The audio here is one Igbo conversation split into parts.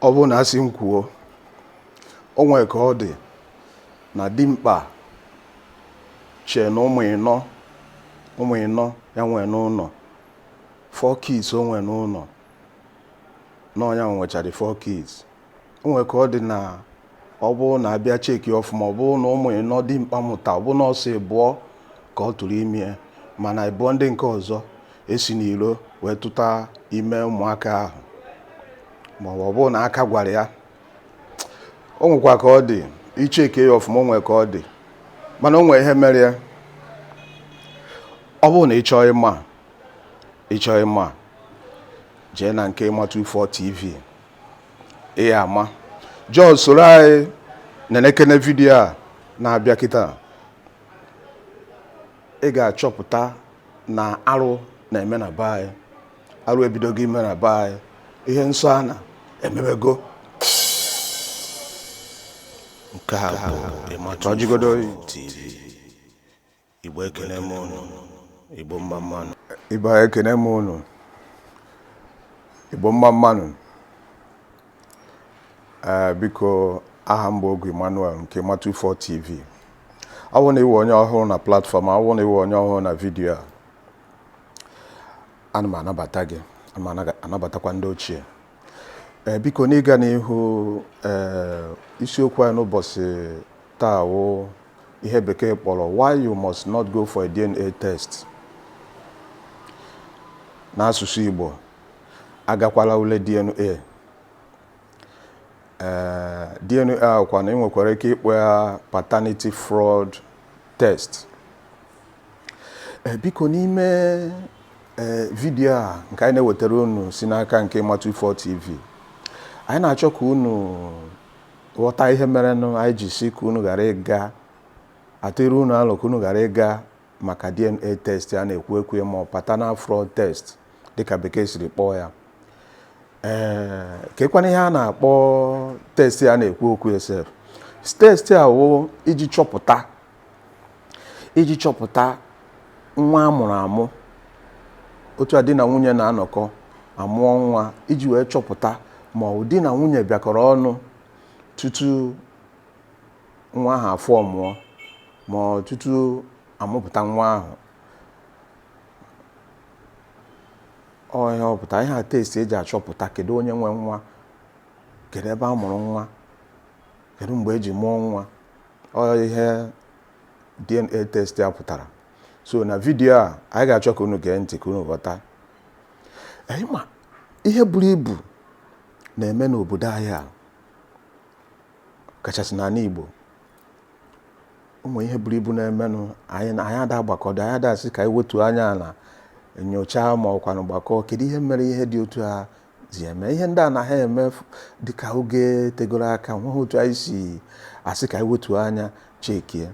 ọ bụrụ na a sị m kwuo o nwere ka ọ dị na dimkpa chee na ụmụ ịnọ ụmụ ịnọ ya nwee n'ụlọ four kids o nwee n'ụlọ na ọ ya nwechara four kids o nwere ka ọ dị na ọ bụrụ na a bịa cheki ọfụma ọ bụrụ na ụmụ ịnọ dimkpa mụta ọ bụrụ na ọ sọ ịbụọ ka ọ tụrụ ime mana ịbụọ ndị nke ọzọ e si n'iro wee tụta ime ụmụaka ahụ ma ọ bụrụ na aka gwara ya o nwekwa ka ọ dị i cheke ya ọfụma o nwere ka ọ dị mana o nwere ihe mere ya ọ bụrụ na ị chọọ ịma ị chọọ ịma jee na nke Emma 24 TV ị ya-ama join soro anyị nenekene vidiyo a na-abịa kịta ị ga-achọpụta na arụ na-eme na be anyị arụ ebidogo ime na be anyị ihe nsọ ana emebego nke a bụ Ịmatụ Ọjịgodo TV Igbo ekene m ụnụ, Igbo mma mma nụ. Igbo ekene m ụnụ, Igbo mma mma nụ. Ee, eh, biko aha m bụ Ogu Emmanuel nke Emma 24 TV. Awụ na ị wụ onye ọhụrụ na platform, awụ na ị wụ onye ọhụrụ na vidiyo a. Ana m anabata gị, ana m anabatakwa ndị ochie. Ee, eh, biko n'ịga n'ihu, ee, eh, isiokwu anyị n'ụbọchị taa wụ ihe bekee kpọrọ why you must not go for a DNA test n'asụsụ Igbo agakwala ule DNA ee eh, DNA a kwanụ ị nwekwara ike ịkpọ ya paternity fraud test eh, biko n'ime eh, vidiyo a nke anyị na-ewetara unu si n'aka nke Emma 24 TV anyị na-achọ ka unu ghọta ihe merenụ anyị ji sị ka unu ghara ịga atụrụ unu alo ka unu ghara ịga maka DNA test a na-ekwu okwu ya ma ọ paternal fraud test dịka bekee siri kpọọ ya ee kekwanụ ihe a na-akpọ test a na-ekwu okwu ya sef test a wụ iji chọpụta iji chọpụta nwa a mụrụ amụ otu a di na nwunye na-anọkọ amụọ nwa iji wee chọpụta ma ọ di na nwunye bịakọrọ ọnụ tutu nwa ahụ afọ ọ mụọ ma ọ tutu amụpụta nwa ahụ ọ ihe ọ pụta ihe a test e ji achọpụta kedu onye nwe nwa kedu ebe a mụrụ nwa kedu mgbe e ji mụọ nwa ọ ihe DNA test a pụtara so na vidiyo a anyị ga-achọ ka unu gee ntị ka unu ghọta anyị ma ihe buru ibu na-eme n'obodo anyị a kachasị n'ala Igbo ụmụ ihe buru ibu na-emenụ anyị ada agbakọdo anyị ada asị ka anyị wetu anya na nyochaa ma ọkwanụ gbakọọ kedu ihe mere ihe dị otu a ji eme ihe ndị anaha eme dịka oge tegoro aka nweghị otu anyị si asị ka anyị wetuo anya chekie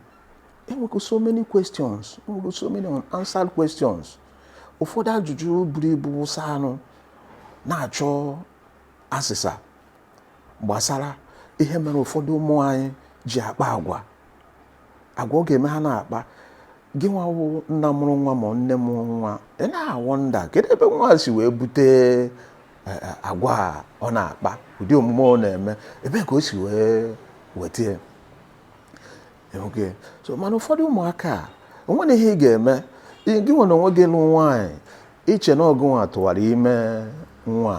enwego so many questions so many unanswered questions ụfọdụ ajụjụ buru ibu wụsanụ na-achọ asịsa gbasara ihe mere ụfọdụ ụmụ anyị ji akpa agwa agwa ọ ga-eme ha na-akpa gị nwa wụ nna mụrụ nwa ma nne mụrụ nwa ị na-wonder kedu ebe nwa si wee bute e, e, agwa ọ na-akpa ụdị omume ọ na-eme ebe ka o si wee weta ya so mana ụfọdụ ụmụaka o nwere ihe ị ga-eme gị nwa na onwe gị lụ nwaanyị i che na ọ gị nwa tụwara ime nwa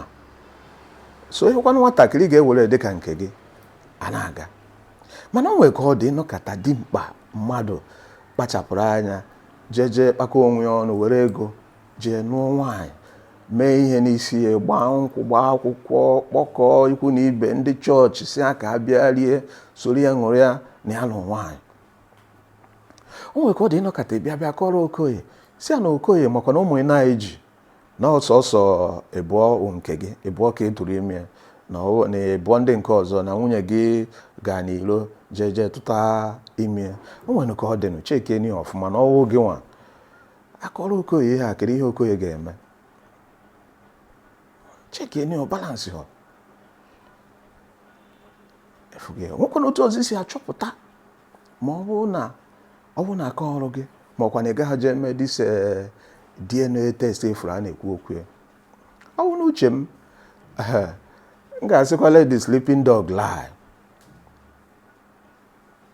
so ị hụkwanụ nwatakịrị ga-ewere dị ka nke gị a na-aga mana o nwere ka ọ dị ị nọkata dimkpa mmadụ kpachapụrụ anya jee jee kpakọ onwe ya ọnụ were ego jee nụọ nwaanyị mee ihe n'isi ya gbaa nkwụ gbaa akwụkwọ kpọkọọ ikwu na ibe ndị chọọchị sị ha ka ha bịa rie soro ya ṅụrịa na ya nụ nwaanyị o nwere ka ọ dị ị nọkata bịa bịa kọrọ okoye sị ya na okoye makwa na ụmụ ịnọ i ji na ọ sọsọ ịbụọ wụ nke gị ịbụọ ka ị tụrụ ime na ọ- na ịbụọ ndị nke ọzọ na nwunye gị gaa n'ilo jee jee tụta ime o nwere ka ọ dịnụ chekenị ya ọfụma na ọ wụ gị nwa a kọrọ okoye ihe a kedu ihe okoye ga-eme chekenị ya ọ balance ọ efughị ya. nwekwanụ otu ọzọ i si achọpụta ma ọ bụrụ na ọ bụrụ na a kọọrọ gị ma ọkwanụ ị gaa jee mee this eh, DNA test afụ a na-ekwu okwu ya ọ bụ n'uche m eh, m ga-asịkwa let the sleeping dog lie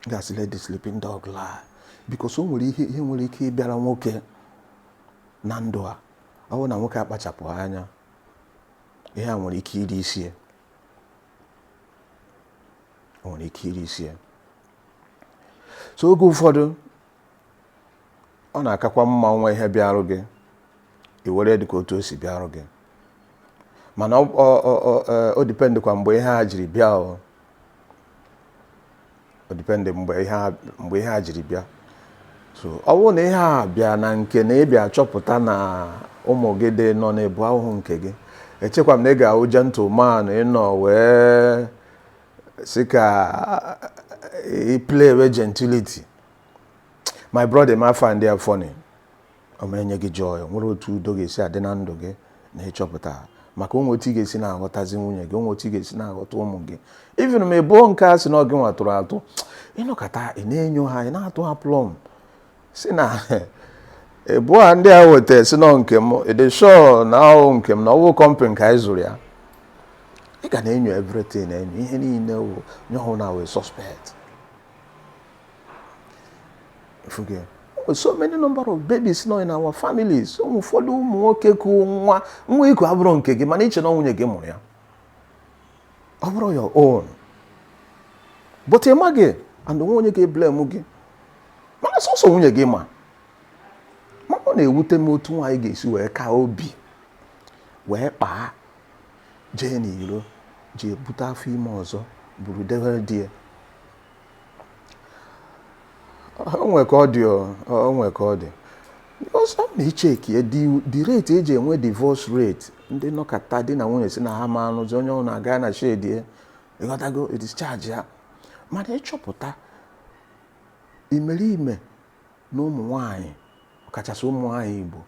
m ga-asị let the sleeping dog lie because o nwere ihe ihe nwere ike ịbịara nwoke na ndụ a ọ bụrụ na nwoke akpachapụha anya ihe a nwere ike iri isi ya o nwere ike iri isi ya so oge ụfọdụ ọ na-akakwa mma nwa ihe bịarụ gị i were dị ka otu o si bịarụ gị mana ọ- ọ- ọ- ọ- eh, o dependkwa mgbe ihe a jiri bịa o o depend mgbe ihe a- mgbe ihe a jiri bịa so ọ bụrụ na ihe a bịa na nke na ị bịa chọpụta na ụmụ gị dị ịnọ na ịbụọ awụhụ nke gị echekwa m na ị ga-awụ gentleman ị nọ wee si ka i play with gentility my brother ị ma find ya funny ọ ma enye gị joy o nwere otu udo ga-esi adị na ndụ gị na ịchọpụta maka o nwe otu ị ga-esi na-aghọtazi nwunye gị o nwe otu ị ga-esi na-aghọta ụmụ gị even ma ebo nke a sị na ọ gị nwa tụrụ atụ ị nọkata ị na-enyo ha ị na-atụ ha plọm si na ebo a ndị a weta sị na ọ nke m ị dị sure na ọ wụ nke m na ọ wụ company ka anyị zụrụ ya ị ga na-enyo everything enyo ihe niile onye ọwụna wụ suspect forget so many number of babies nọ in our families ụfọdụ ụmụ nwoke ku nwa nwa i ku abụrọ nke gị mana i che na nwunye gị mụrụ ya ọ bụrọ your own but ị maghị and o nwe onye ga-eblame gị mana sọsọ nwunye gị ma mana ọ na-ewute m otu nwaanyị ga-esi wee ka obi wee kpaa jee n'iro jee bute afọ ime ọzọ buru dewere di ya o nwe ka ọ dị o nwe ka ọ dị so ọ na i checkie the rate e ji enwe divorce rate ndị nọkata di na nwunye si na ha ma anụzi onye ọwụna aga na shed ya ị ghọtago discharge ya mana ị chọpụta imerime na ụmụ nwanyị ọkachasị ụmụ nwanyị Igbo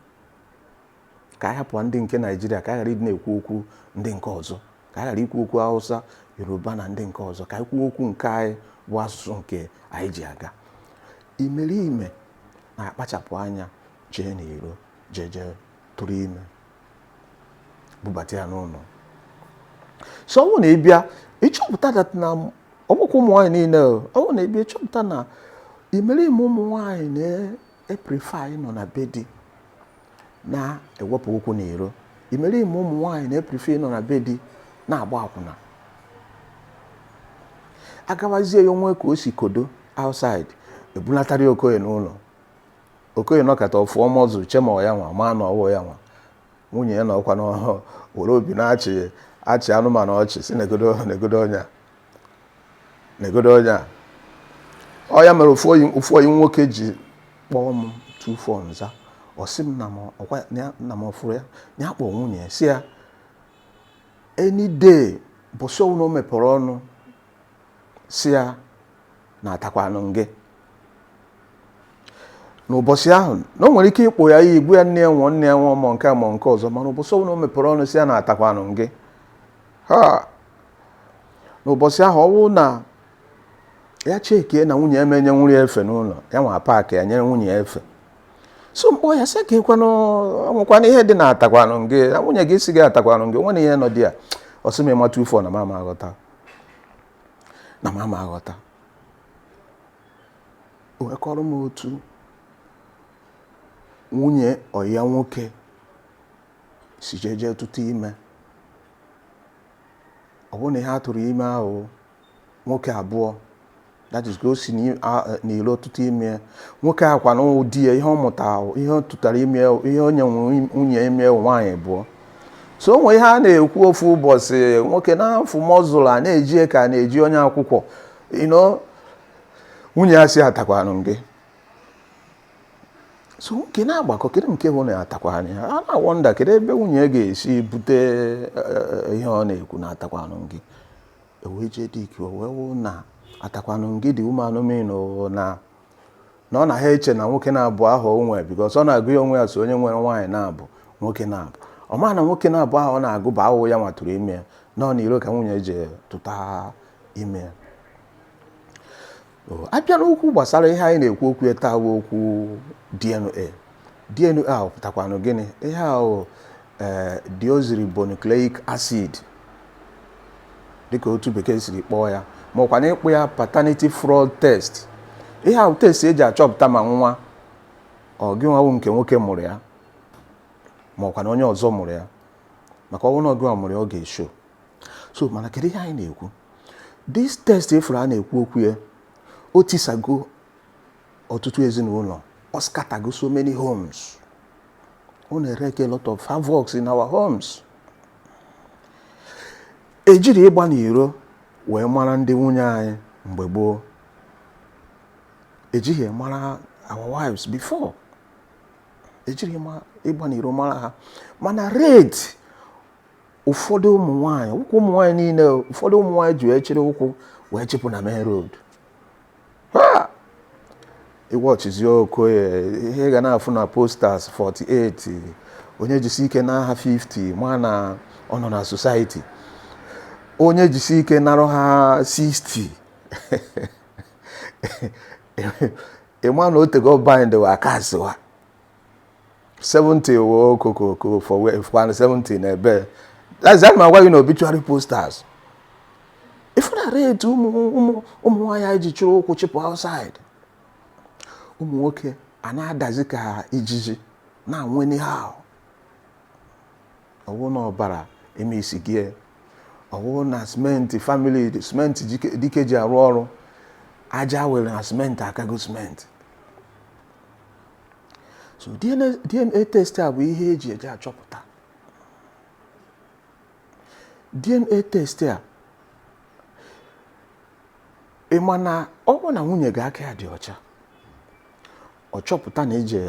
ka a hapụ ndị nke naijiria ka a ghara ịdị na-ekwu okwu ndị nke ọzọ ka a ghara ikwu okwu hausa yoruba na ndị nke ọzọ ka anyị kwuo okwu nke anyị bụ asụsụ nke anyị ji aga imerime na-akpachapụ anya jee n'iro jee jee tụrụ ime bubata ya n'ụlọ so ọ wụ na ị bịa ịchọpụta that na ọ bụkwọ ụmụ nwaanyị niile ọ wụ na ị bịa ịchọpụta na imerime ụmụ nwaanyị na-eprefer ịnọ na be di na-ewepụ ụkwụ n'iro imerime ụmụ nwaanyị na-eprefer ịnọ na be di na-agba akwụna agawazie ya o nwe ka o si kodo outside ebulatara okoye n'ụlọ okoye nọkata ọ fụọ muscle chema ya nwa ma na ọ wụ ya nwa nwunye ya anọkwanụ were obi na-achị achị anụmanụ ọchị si negodu negodu onye a negodu onye a ọ ya mere ofu oyi nwoke ji kpọọ m two phone za ọ sị m nna m ọ fụrụ ya na ya kpọọ nwunye ya si ya any day ụbọsị ọwụna o mepere ọnụ si ya na atakwanụ ngị n'ụbọsị ahụ na o nwere ike ịkpọ ya iyi gwa ya nne ya nwụọ nne ya nwụọ ma nke a ma nke ọzọ mana ụbọsị ọwụna o mepere ọnụ si ya na atakwanụ gị ha n'ụbọchị ahụ ọwụ na ya cheke na nwunye ya menye nwunye ya efe n'ụlọ ya nwa paakị ya nyere nwunye ya efe so m kpọọ ya sị kekwanụ o nwekwanụ ihe dị na atakwanụ gị na nwunye gị sị gị atakwanụ gị nwere ihe nọ dị ya ọ sị m ịmatụ ifo na m ama aghọta o wee kọọrọ m otu nwunye ọyị ya nwoke si jeje tụta ime Ọ bụ na ihe a tụrụ ime ahụ nwoke abụọ that is ka o si n'iro tụta ime nwoke ahụ kwa na ụdị ya ihe ọ mụta ahụ ihe ọ tụtara ime ihe onye nwere nwunye ime nwaanyị abụọ so o nwee ihe a na-ekwu ofu ụbọchị nwoke na-afụ mọzụl a na-eji ka na-eji onye akwụkwọ ino nwunye ya sị atakwanụ gị so nwoke na-agbakọ kedu nke bụ na atakwanụ a na-awọnda kedu ebe nwunye ga-esi bute eh, ihe ọ na-ekwu na atakwanụ gị e wee jee dị ike wee wụ na atakwanụ gị dị ụmụ anụmanụ na na ọ na ha eche na nwoke naabọ ahụ o nwee because ọ na-agụ ya onwe ya so onye nwere nwaanyị naabọ nwoke naabọ ọ ma na nwoke naabọ ahụ ọ na-agụ bụ ahụhụ ya nwa tụrụ ime ya na ọ n'iro ka nwunye je tụta ime ya a bịa n'okwu gbasara ihe anyị na-ekwu okwu ya taa wụ okwu DNA DNA ahụ pụtakwanụ gịnị ihe ahụ ee deoxyribonucleic acid dịka otu bekee siri kpọọ ya ma ọ kwanụ ị kpọọ ya paternity fraud test ihe ahụ test eji achọpụta ma nwa ọ gị nwa wụ nke nwoke mụrụ ya ma ọ kwanụ onye ọzọ mụrụ ya maka ọ wụ na ọ gị nwa mụrụ ya ọ ga-esho so mana kedu ihe anyị na-ekwu this test ị fụrụ a na-ekwu okwu ya o tisago ọtụtụ ezinụlọ ọ scatago so many homes ọ na-ereke a lot of havoc in our homes ejirọ ịgba n'iro wee mara ndị nwunye anyị mgbe gboo ejighị mara our wives before ejirọ ịgba n'iro mara ha mana rate ụfọdụ ụmụ nwaanyị ọ wụghị ụmụ nwaanyị niile ụfọdụ ụmụ nwaanyị ji wee chịrị ụkwụ wee chịpụ na main road ị wọchizie okay ihe ị ga na-afụ na posters 48 onye jisi ike narụ ha 50 ma na ọ nọ na society onye jisi ike narụ ha 60 ị ma na o tego bind wa cast wa 70 wo okokoko for where for 70 na ebe that's that my why you know obituary posters ị fụ na rate ụmụ ụmụ ụmụ nwaanyị ji chịrị ụkwụ chịpụ outside ụmụ nwoke ana-adazi ka ijiji na-anwụ anyhow ọ wụ na ọbara emebisigo ọ wụ na simenti family simenti dike- dike ji arụ ọrụ aja a wụrụ na simenti akago simenti so DNA DNA test a bụ ihe e ji eji achọpụta DNA test a ị ma na ọ bụrụ na nwunye gị aka ya dị ọcha ọ chọpụta na i je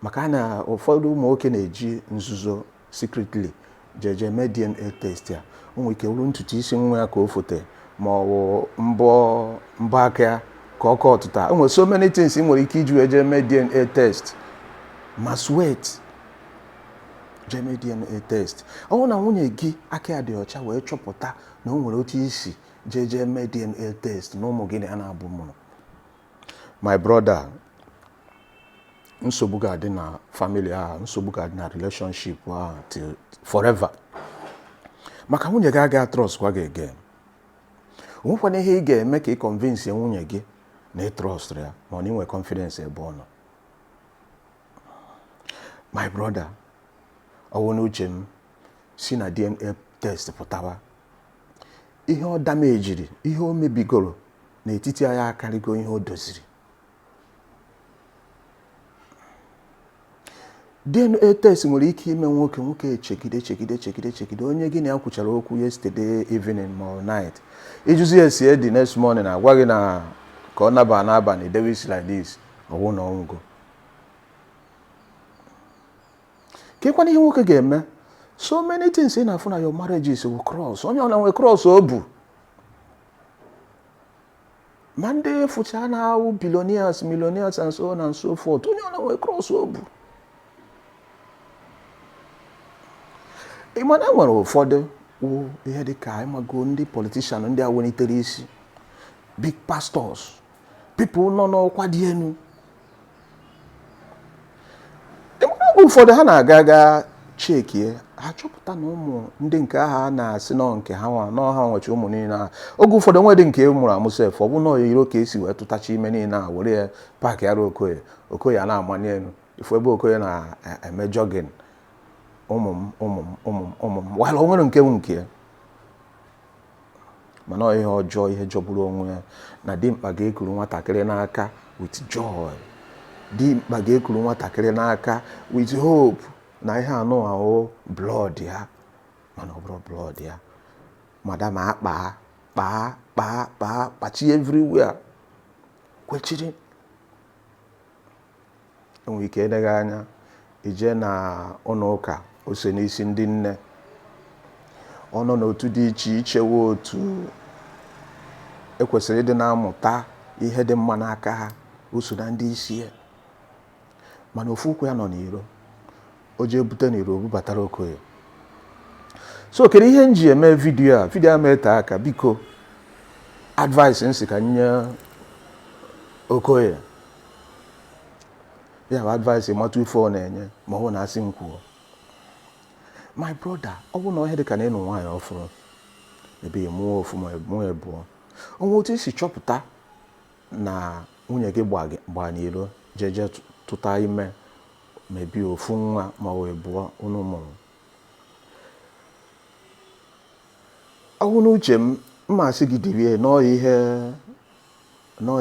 maka na ụfọdụ ụmụ nwoke na-eji nzuzo Secretly, jeje mee DNA test ya. O nwere ike wụrụ ntutu isi nwa ya ka o fote ma ọ wụ mbọ mbọ aka ya ka ọ kọtụta. O nwere so many things ị nwere ike iji wee jee mee DNA test. Ma sweat, jee mee DNA test. Ọ bụrụ na nwunye gị aka ya dị ọcha wee chọpụta na o nwere otu i si jeje mee DNA test na ụmụ gị na ya naabọ mụrụ. My brother, nsogbu ga-adị na family a nsogbu ga-adị na relationship a till forever maka nwunye gị agaghị trust kwa gị again o nwekwanụ ihe ị ga-eme ka ị convince nwunye gị na ị trust ya ma ọ na i nwe confidence ebe ọ nọ my brother ọ wụ n'uche m si na DNA test pụtawa ihe ọ damejiri ihe o mebigoro n'etiti anyị akarịgo ihe o doziri DNA test nwere ike ime nwoke nwoke echegide chegide chegide chegide onye gị na ya kwuchara okwu yesterday evening ma ọ night ị jụzie ya ese the next morning a gwa gị na ka ọ naba n'abalị dewe isi like this ọ wụ na ọ nwụgo kekwanụ ihe nwoke ga-eme so many things ị na-afụ na your marriages wụ cross onye ọwụna nwe cross o bu ma ndị ị fụcha na-awụ billionaires millionaires and so on and so forth onye ọwụna nwe cross o bu ị ma na e nwere ụfọdụ wụ ihe dị ka ị mago ndị politician ndị a welitere isi big pastors people nọ n'ọkwa dị elu oge ụfọdụ ha na-aga aga chekie ha chọpụta na ụmụ ndị nke a ha na-asị na ọ nke ha nwa na ọ ha nwecha ụmụ niile ahụ oge ụfọdụ o nwedị nke e mụrụ amụ sef ọ bụ n'iro ka e si wee tụtacha ime niile a were ya paakịara okoye okoye ana-amani elu ị fụ ebe okoye na-eme jogging ụmụ m ụmụ m ụmụ m ụmụ m while o nwerọ nke wụ nke mana ọ ihe ọjọọ ihe jọgburu onwe ya na dimkpa ga-ekuru nwatakịrị n'aka with joy dimkpa ga-ekuru nwatakịrị n'aka with hope na ihe anụwa wụ blood ya mana ọ bụrụ blood ya madam akpaa kpaa kpaa kpaa kpachi everywhere kwechiri e nwere ike eleghị anya i jee na ụlọ ụka ose n'isi ndị nne ọ nọ n'otu dị iche iche wụ otu e kwesịrị ịdị na-amụta ihe dị mma n'aka ha o so na ndị isi ya mana ofu ụkwụ ya nọ n'iro o jee bute na iro bubatara okoye so kedu ihe m ji eme vidiyo a vidiyo a ama ete aka biko advice m sị ka m nye okoye ya bụ advice ịmatụ ife ọ na-enye ma ọ bụ na asị m kwuo my brother ọ bụ na ọ ihe dị ka na ị nụ nwaanyị ọfụrụ ebe ya mụọ ofu ma mụọ abụọ o nwee otu i si chọpụta na nwunye gị gba gị- gba n'iro jeje tụta ime maybe ofu nwa ma ọ bụ ịbụọ unu mụrụ ọ wụ n'uche m m ma asị gị dirie na ọ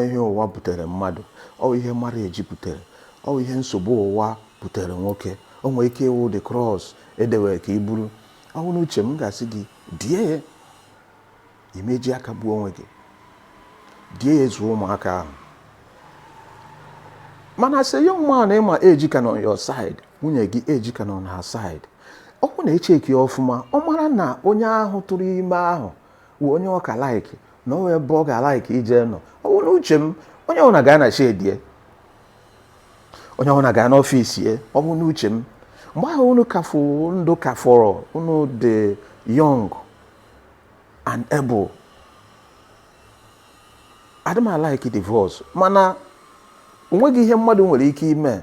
ihe ụwa butere mmadụ ọ bụ ihe marriage butere ọ bụ ihe nsogbu ụwa butere nwoke o nwere ike ịwụ the cross e dewe ka i buru ọ wụ n'uche m ga-asị gị die ya ị ma eji aka gbuo onwe gị die ya zụọ ụmụaka ahụ mana sị young man ị ma age ka nọ your side nwunye gị age ka nọ na her side ọ bụ na e check ọfụma ọ mara na onye ahụ tụrụ ime ahụ wụ onye ọ ka like na o nwe ebe ọ ga-alike ije nọ ọ bụrụ uche m onye ọbụla gaa na shed ye onye ọbụla gaa n'office ye ọ bụ n'uche m mgbe ahụ unu ka fụ ndụ ka fọrọ unu dị young and able adị m alike divorce mana onweghị ihe mmadụ nwere ike ime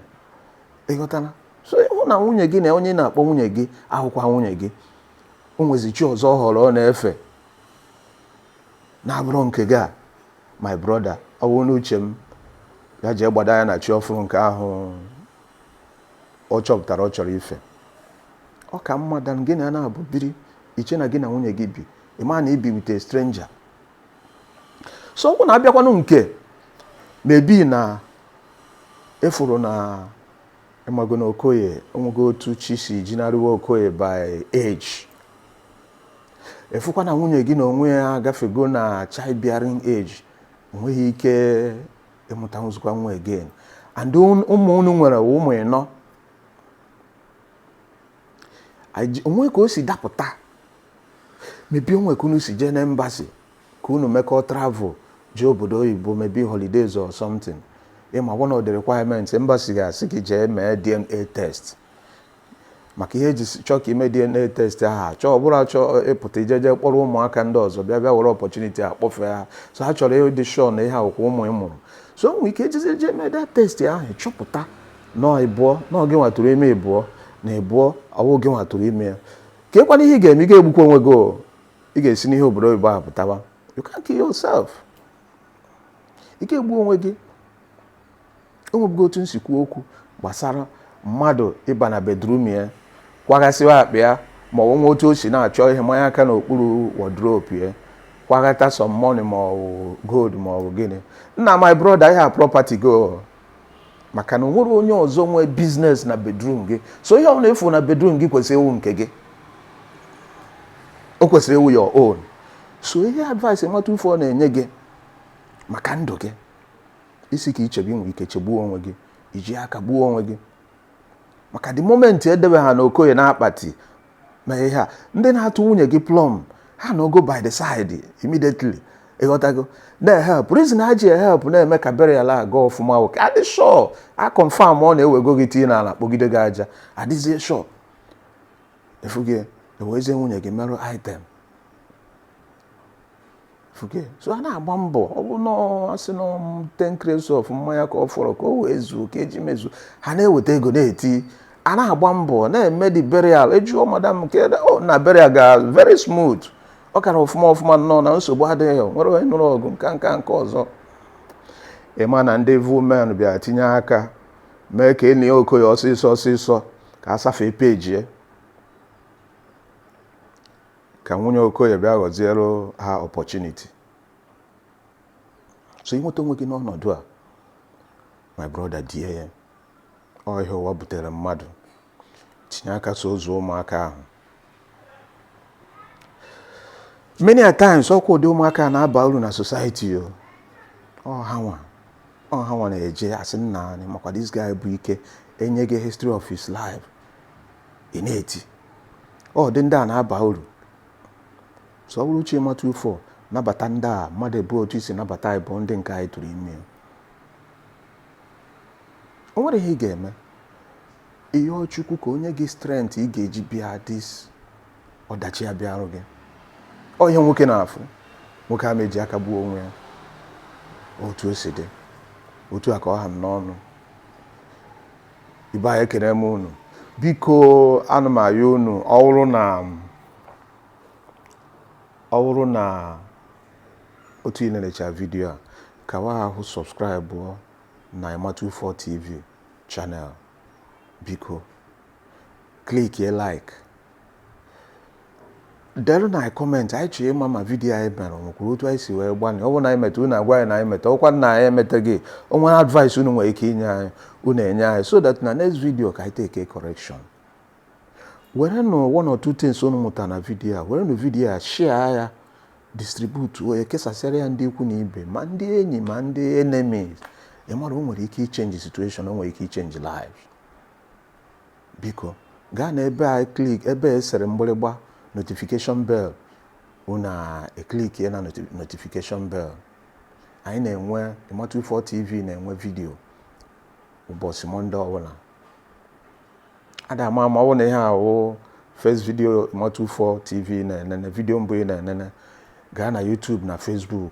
ị ghọtana so ị hụ na nwunye gị na onye ị na-akpọ nwunye gị awụkwa nwunye gị o nwezi chi ọzọ ọ họrọ ọ na-efe na-abụrụ nke gị a my brother ọ bụrụ n'uche m ya jee gbada ya na chi ọfụrụ nke ahụ ọ chọpụtara ọ chọrọ ife ọ ka mma than gị na ya nabọ biri i chee na gị na nwunye gị bi ị ma na i bi with a stranger so ọ bụ na a bịakwanụ nke maybe na ị fụrụ na ị mago na okoye o nwego otu chi si jinarịwa okoye by age ị fụkwa na nwunye gị na onwe ya agafego na childbearing age o nweghị ike ịmụtanwuzikwa nwa again and un- ụmụ unu nwere wụ ụmụ ịnọ Aji- onwe ka o si dapụta maybe onwe ka unu si jee na embassy ka unu mekọọ travel jee obodo oyibo maybe holidays or something ịma one of the requirements embassy ga-asị gị jee mee dna test maka ihe eji chọọ ka ime DNA test ahụ achọ ọ bụrụ achọpụta i jeje kpọrọ ụmụaka ndị ọzọ bịa bịa were opportunity a kpọfee ha so ha chọrọ ịdị sure na ihe a wụkwa ụmụ ị mụrụ so nwere ike ejezie je mee that test ahụ chọpụta na ịbụọ na ọ gị nwa tụrụ ime ịbụọ na ịbụọ ọwụ gị nwa tụrụ ime ya kee kwanụ ihe ị ga-eme ị ga-egbukwa onwe gị ị ga-esi n'ihe obodo oyibo ahụ pụtawa you can't kill yourself ị ga-egbu onwe gị o nwebugo otu m si kwuo okwu gbasara mmadụ ịba na bedroom ya kwaghasịwa akpa ya ma ọ nwe otu o si na-achọ ihe manye aka n'okpuru wardrobe ya kwaghata some money ma ọ bụ gold ma ọ bụ gịnị nna my brother ihe a property gị o maka na onwerọ onye ọzọ nwe business na bedroom gị so ihe ọ na-efu na bedroom gị kwesịrị ịwụ nke gị o kwesịrị ịwụ your own so ihe advice nwata ufo na-enye gị maka ndụ gị i si ka i chebe ị nwere ike chegbuo onwe gị iji aka gbuo onwe gị maka the moment edebe ha na okoye na akpati na ihe a ndị na-atụ nwunye gị plan ha anọgo by the side immediately ịghọtago na-ehelp reason ha ji ehelp na-eme ka burial a gaa ọfụma wụ ka adị sure a confirm ọ na ewego gị tii n'ala kpọgide gị aja adịzie sure efughị ewezie nwunye gị merụ item so a na-agba mbọ ọ bụ na asị na ten crates of mmanya ka ọ fọrọ ka o wee zuo ka eji mezuo ha na-eweta ego na-eti a na-agba mbọ na-eme the burial ajụọ madam nke oh, na burial ga very smooth ọ gara ọfụma ọfụma nnọọ na nsogbu adịghị nwerọ onye nụrụ ọgụ nke a nke a nke ọzọ ịma na ndị evil men bịara tinye aka mee ka enie okoye ọsịsọ ọsịsọ ka a safee page ka nwunye okoye bịa ghọziere ha opportunity so ịnweta onwe gị n'ọnọdụ a my brother die ya ọ ihe ụwa butere mmadụ tinye aka so zụọ ụmụaka ahụ many a times ọkwa ụdị ụmụaka na-aba uru na society o ọ ha nwa ọ ha nwa na-eje asị nna anyị makwa this guy bụ ike enye gị history of his life ị na-eti ọ dị ndị a na-aba uru so ọ bụrụ uche ịmatụ ufọ nabata ndị a mmadụ abụọ otu i si nabata anyị bụ ndị nke a ị tụrụ ime o nwere ihe ị ga-eme ị yọọ Chukwu ka o nye gị strength ị ga-eji bear this ọdachi a bịarụ gị ọ ihe nwoke na-afụ nwoke ama eji aka gbuo onwe ya otu o si dị otu a ka ọ ha m n'ọnụ ibe anyị ekene m unu biko ana m ayọ unu ọ wụrụ na ọ wụrụ na otu ị nenecha vidiyo a ka wa ahụ subscribe na Ima24 TV channel biko clickie like delu nụ anyị comment anyị chọrọ ịma ma vidiyo anyị mere nwekwuru otu anyị si wee gbanị ọ bụrụ na anyị meta unu agwa anyị na anyị meta ọ kwa na anyị emetaghị o nwere advice unu nwere ike inye anyị unu enye anyị so that na next video ka anyị take correction were nụ one or two things unu mụta na vidiyo a were nụ vidiyo a share ya distribute nụ ya kesasịara ya ndị ikwu na ibe ma ndị enyi ma ndị enemies ị mara o nwere ike ịchange situation o nwere ike ịchange life Biko, gaa na ebe a click ebe e sere mgbịrịgba notification bell unu eclickie na notification bell. Anyị na-enwe Ima24 TV na-enwe vidio ụbọchị Mọnde ọbụla. A da ama ama ọ bụrụ na ihe a wụ first video Ima24 TV ị na-enene vidio mbụ ị na-enene gaa na YouTube na Facebook